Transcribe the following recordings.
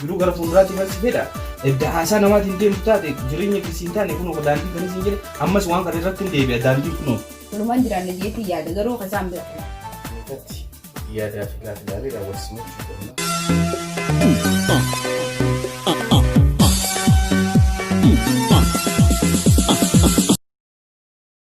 Jiruu gara fuulduraatti malsi fedha edda haasaa namaatiin deemtu taate jireenya keessi hin taane kunoo daandiin kan isin jedhe ammas waan kana irratti hin deebi'a daandiin kunoo. Walumaan jiraanna jeetii yaada garuu kan isaan bira. Irratti yaadaa fi gaafilaalee raawwachiisuu qabna.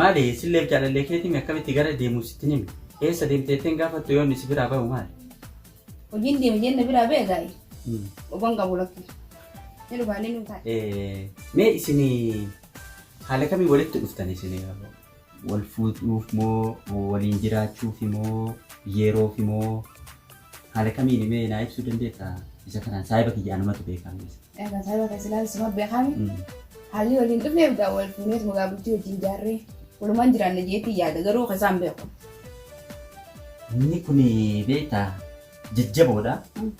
Maali silleef jaalallee keetimi akkamitti gara deemu sitti nimi eessa deemte jetteen gaafattu yoonni si biraa bahu maali? Hojiin deeme jenna biraa ba'e gaa'i. Mm. Obon qabu lakki. Ni dhufaanii nu taa'e. Eh, Mee isin haala kamiin walitti dhuftan isin wal fuudhuuf moo waliin jiraachuuf moo yeroof moo Haala kamiini mee naa ibsuu dandeetta? Isa kanaan saahiba kiyya anumatu beekaa mee isa. Egaa saahiba kee silaa suma beekaami. Mm. Haalli waliin dhufneef egaa wal fuunee tuma egaa bultii wajjin jaarree walumaan jiraanna jeetti yaada garuu kan isaan beeku. Inni kun beektaa jajjaboodha. Mm.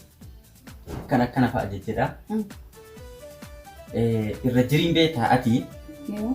Kan akkana fa'a jajjadha. Mm. Eh, Irra jiriin beektaa ati Yoo.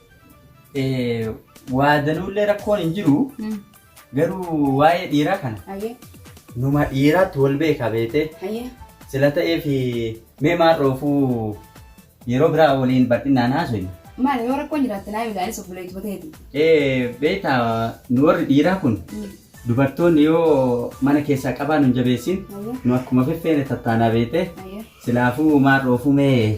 Waa danuullee rakkoon hin jiru. Garuu waa'ee dhiiraa kana. Ayyee. Numa dhiiraatti wal beeka beetee. Ayyee. Sila ta'eef mee maal dhoofuu yeroo biraa waliin bal'inaan haasofnu. Maali yoo rakkoon jiraatte naa ilaalis obboleetti bateeti. Beektaa nu warri dhiiraa kun dubartoonni yoo mana keessaa qabaa nu hin jabeessin nu akkuma feffeene tattaanaa beetee. Ayyee. Silaafuu maal dhoofuu mee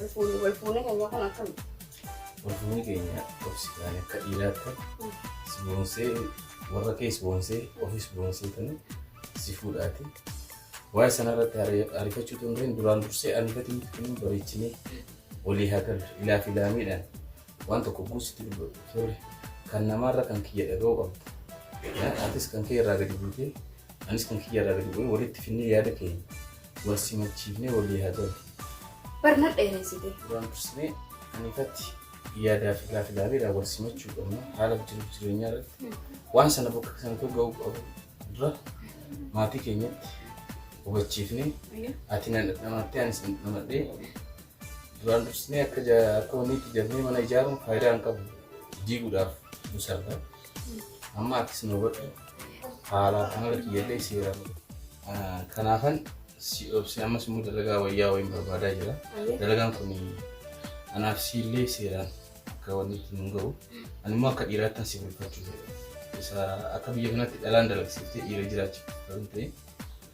Walfuunee keenya kun akkami? Walfuunee keenya obsitaan akka dhiiraatti si boonsee warra kee si boonsee ofis boonsee tani si fuudhaati. Waa'ee sanarratti ariifachuu dandeenyu duraan dursee ani gatii miti kun bareechinee walii haa galu ilaaf ilaamiidhaan waan tokko guu sitti dubbatu sorry kan namaarra kan kiyya dhaga'uu qabda Eh, atis kan kee irraa gadi buutee anis kan kiyya irraa gadi bu'ee walitti finnee yaada keenya wal simachiifnee walii haa ta'u Barnaa dheereessite. duraan dursinee kan ifatti yaadaa fi gaafi laabeedhaan wal simachuu qabna haala jiruuf jireenyaa irratti waan sana bakka sanatti ga'uu qabu dura maatii keenyatti hubachiifnee ati na dhamadhee anis na dhamadhee Duraan dursnee akka akka wanniitti jabnee mana ijaaruun faayidaa hin qabu. Diiguudhaaf nu sarba. Amma attis nu hubadhu. Haala amala kiyyallee seera. Kanaafan si obse ammas immoo dalagaa wayyaa wayiin barbaadaa jira. Dalagaan kun anaaf siillee seeraan akka wanniitti nu gahu. Ani immoo akka dhiiraattan si bulfachuu fedha. Isa akka biyya kanatti dhalaan dalagsiiftee dhiira jiraachiftu ta'e.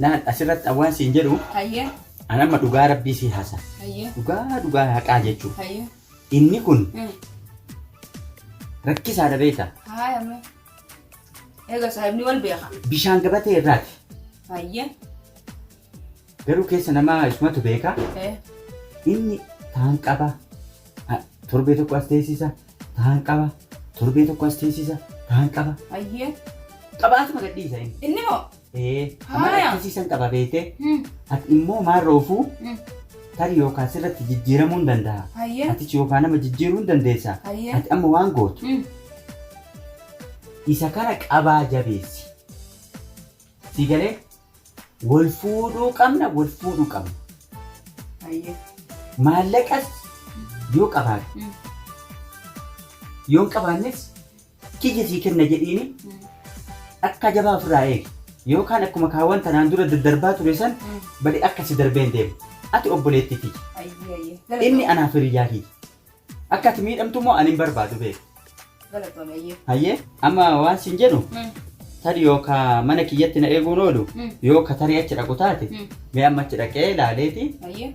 Laal asirratti an waan siin jedhu Hayyee. an amma dhugaa rabbii sii hasa. Hayyee. Dhugaa dhugaa haqaa jechuun Hayyee. inni kun Mm. rakkisaadha beekta. Haaya mee. Eega saahibni wal beeka. Bishaan gabatee irraati. Hayyee. Garuu keessa namaa isumatu beeka. Eh. Inni taan qaba. A- Torbee tokko as teessisa. Taan qaba. Torbee tokko as teessisa. Taan qaba. Hayyee. Qabaatuma gadhiisa inni. Inni moo? Ee, Haaya. amala akkasiisan qaba beekte. Hmm. Ati immoo maal roofuu Hmm. tarii yookaan sirratti jijjiiramuu hin danda'a. Hayyee. Atichi yookaan nama jijjiiruu hin dandeessa. Hayyee. Ati amma waan gootu Hmm. isa kana qabaa jabeessi. Si galee wal fuudhuu qabna wal fuudhuu qabna. Hayyee. Maallaqas yoo qabaate Hmm. yoo hin qabaannes Kiyya sii kenna jedhiini akka jabaa ofirraa eegi. Yookaan akkuma kaawwan tanaan dura daddarbaa ture san bade akka si darbee hin deemu. Ati obboleettii tiyya. Ayyee ayyee. Inni Galatoom. anaaf hiriyyaa kiyya. Akka ati miidhamtu immoo ani hin barbaadu beeku. Galatoom ayyee. Hayyee amma waan siin jedhu Mm. tarii yoo ka mana kiyyatti na eeguun oolu Mm. yoo ka tarii achi dhaqu taate Mm. mee amma achi dhaqee laaleeti Ayyee.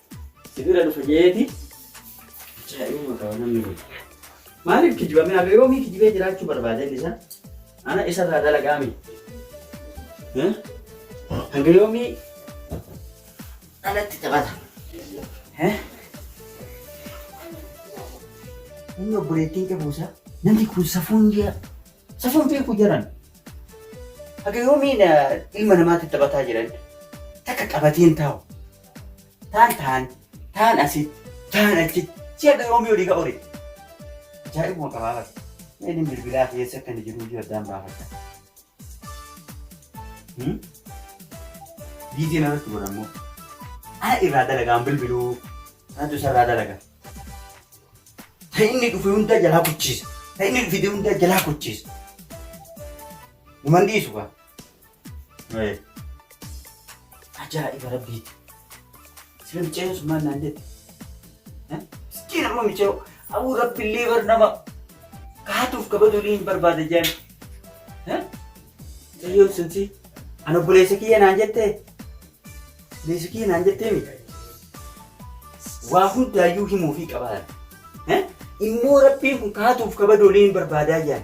Si bira dhufa jeeti. Ajaa'ibuma qaba namni kun. Maaliif kijibame haga yoomii kijibee jiraachuu barbaada inni isaa? Ana isarraa dalagaami. Eh? Haga yoomii anatti taphata. Eh? Inni obboleettiin qabuusa namni kun safuun jira. Safuun beeku jiran. Haga yoomiin ilma namaatti taphataa jiran takka qabateen taa'u. Taan taan, taan asitti, taan achitti. Si akka yoomii olii ka ori. Ajaa'ibuma qabaafata. Mee inni bilbilaa fi eessa akka inni jiru iyyuu addaan baafata. Hmm? Viidiyoo na irratti godha immoo. Ana irraa dalagaan bilbiluu. Anatu isa irraa dalaga. Ta inni dhufe hundaa jalaa kuchiisa. Ta inni fide hundaa jalaa kuchiisa. Numan dhiisu kaa. Ajaa'iba rabbiiti. Sila micayyoo sun maal naan jette? Miskiin amma micayyoo. Abuu rabbillee bar nama kaatuuf kabajulii hin barbaada jaan. Micayyoo sun si an obboleessa kiyya naan jettee? Obboleessa kiyya naan jettee mi? Waa hundaayyuu himuufii qabaadha. Immoo rabbiin kun kaatuuf kabajulii hin barbaadaa jaan.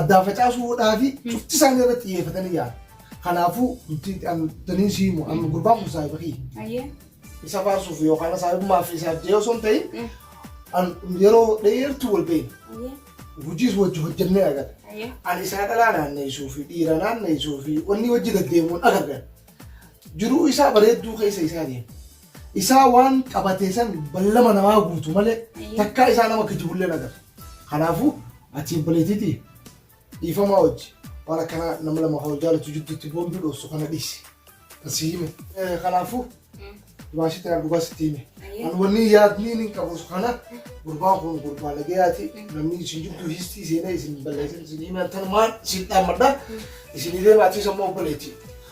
Addaan facaasuu hodhaa fi cufti isaanii irratti xiyyeeffatanii yaala. Kanaafuu nuti danii si himu amma gurbaan kun saahiba kiyya. Ayyee. Isa faarsuuf yookaan saahibummaa fi isaaf jee osoo hin ta'in an yeroo dheertuu wal beekna. Ayyee. Hojiis wajji hojjennee agarra. Ayyee. Ani isaa dhalaa naanneessuu fi dhiira naanneessuu fi wanni wajji gaddeemuun agarra. Jiruu isaa bareedduu keessa isaa deema. Isaa waan qabatee san ballama namaa guutu malee Ayyee. takkaa isaa nama kijibullee nagarre. Kanaafuu ati obboleetiiti dhiifamaa hojji waan akkanaa nama lama hoo jaalatu jidduutti boonduu dhoofsu kana dhiisi. Kan si hime. Eh, Kanaafuu dubaashitti na dhugaa sitti hime. Ayyee. An wanni yaadni hin qabus kana gurbaan kun gurbaa nagayaati namni isin jidduu histii seenee isin balleessan isin hime tanumaan isin dhaammadha isin illee maatii sammuu obboleetti.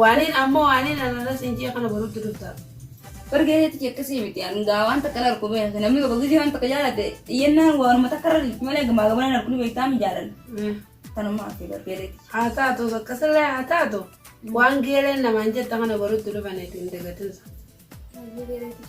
Waaniin ammoo waaniin anarra siin jee kana borutti dhuftaaf. Bar geeteetti kee akkasii miti an gaa waan takka narku beekte namni tokko gizii waan takka jaalate iyyannaan waanuma takka irra dhiifti malee gamaa gamana narku ni beektaa mi jaalala Eh, kanuma hafe bar geeteetti. Haa taatu akkasillee haa taatu waan geeleen namaan jetta kana borutti dhufaneeti hin dagatinsa. Baay'ee geeteetti.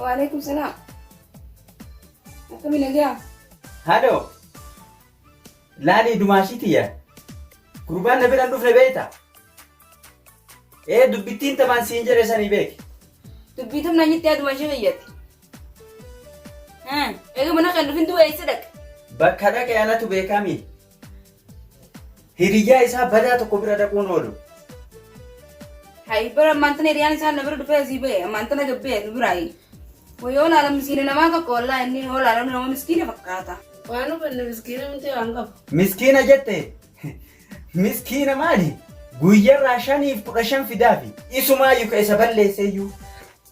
Waalaikum salaam. Akkami nagaa? Haadhoo! Laalii dumaashii tiyya. Gurbaan na biraan dhufne beekta. Ee dubbittiin tamaan siin jedhe sanii beeki. Dubbii tamnaa nyitti yaa dumaashii kiyyatti. Eega mana kan dhufin du'a eessa dhaqa? Bakka dhaqe anatu beekami. Hiriyyaa isaa badaa tokko bira dhaquun oolu. Hayi bara ammaantan hiriyaan isaa na bira dhufee asii ba'e ammaantan aga ba'e nu biraayi. Wayoo laala miskiina namaa tokko wallaa inni yoo laalamu nama miskiina fakkaata. Waan hubanne miskiina miti waan qabu. Miskiina jette miskiina maali? Guyyarraa shaniif kudha shan fidaafi isumaa yuka isa balleesseeyyuu.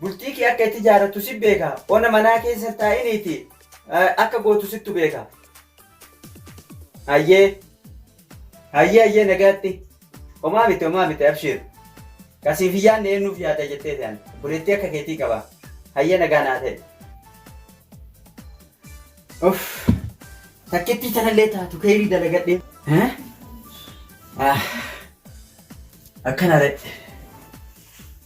Bultii kee akka itti jaarattu si beeka. Ona manaa keessa hin taa'iniiti akka gootu sittu beeka. Hayyee. Hayyee hayyee nagaatti. Homaa miti homaa miti abshiir. Kasiif hin yaadne eenyuuf yaada jettee ta'an. Buleettii akka keetii qaba. Hayyee nagaa naa ta'e. Uff. Takkittii tanallee taatu keeyrii dalagadhee. Akkana ta'e.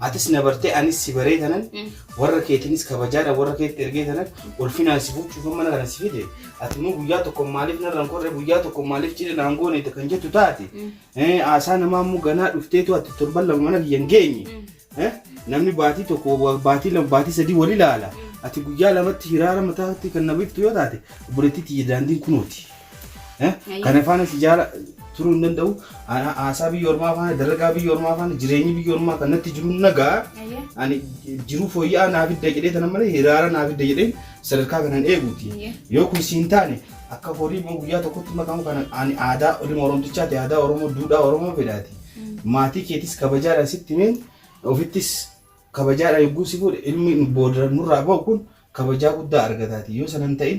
Atis na bartee anis si baree tanan warra keetiinis kabajaadhaan warra keetti ergee tanan ulfinaan si fuuchuufan mana kana si fide ati immoo guyyaa tokko maaliif narraan korre guyyaa tokko maaliif cidha naan goone kan jettu taate haasaa namaa immoo ganaa dhufteetu ati torban lama mana kiyya hin geenye namni baatii tokko baatii lama baatii sadii wal ilaala ati guyyaa lamatti hiraara mataatti kan na biftu yoo taate obboleettii tiyya daandiin kunooti. Eh? Ayi. Kana faana si jaala turuu hin danda'u. Ana haasaa biyya ormaa faana, dalagaa biyya ormaa faana, jireenyi biyya ormaa kan natti jiru nagaa. Ayyee. Ani jiruu fooyya'aa naa fidda jedhee tana malee hiraara naa fidda jedheen sadarkaa kanan eeguuti. Ayyee. Yoo kun siin taane akka horii immoo guyyaa tokkotti makamu kana ani aadaa dhimma oromtichaati aadaa oromoo duudhaa oromoo fedhaati. Maatii keetis kabajaadhaan sitti himeen ofittis kabajaadhaan yogguu si fuudhe ilmi nu booda nurraa ba'u kun kabajaa guddaa argataati. Yoo sana hin ta'in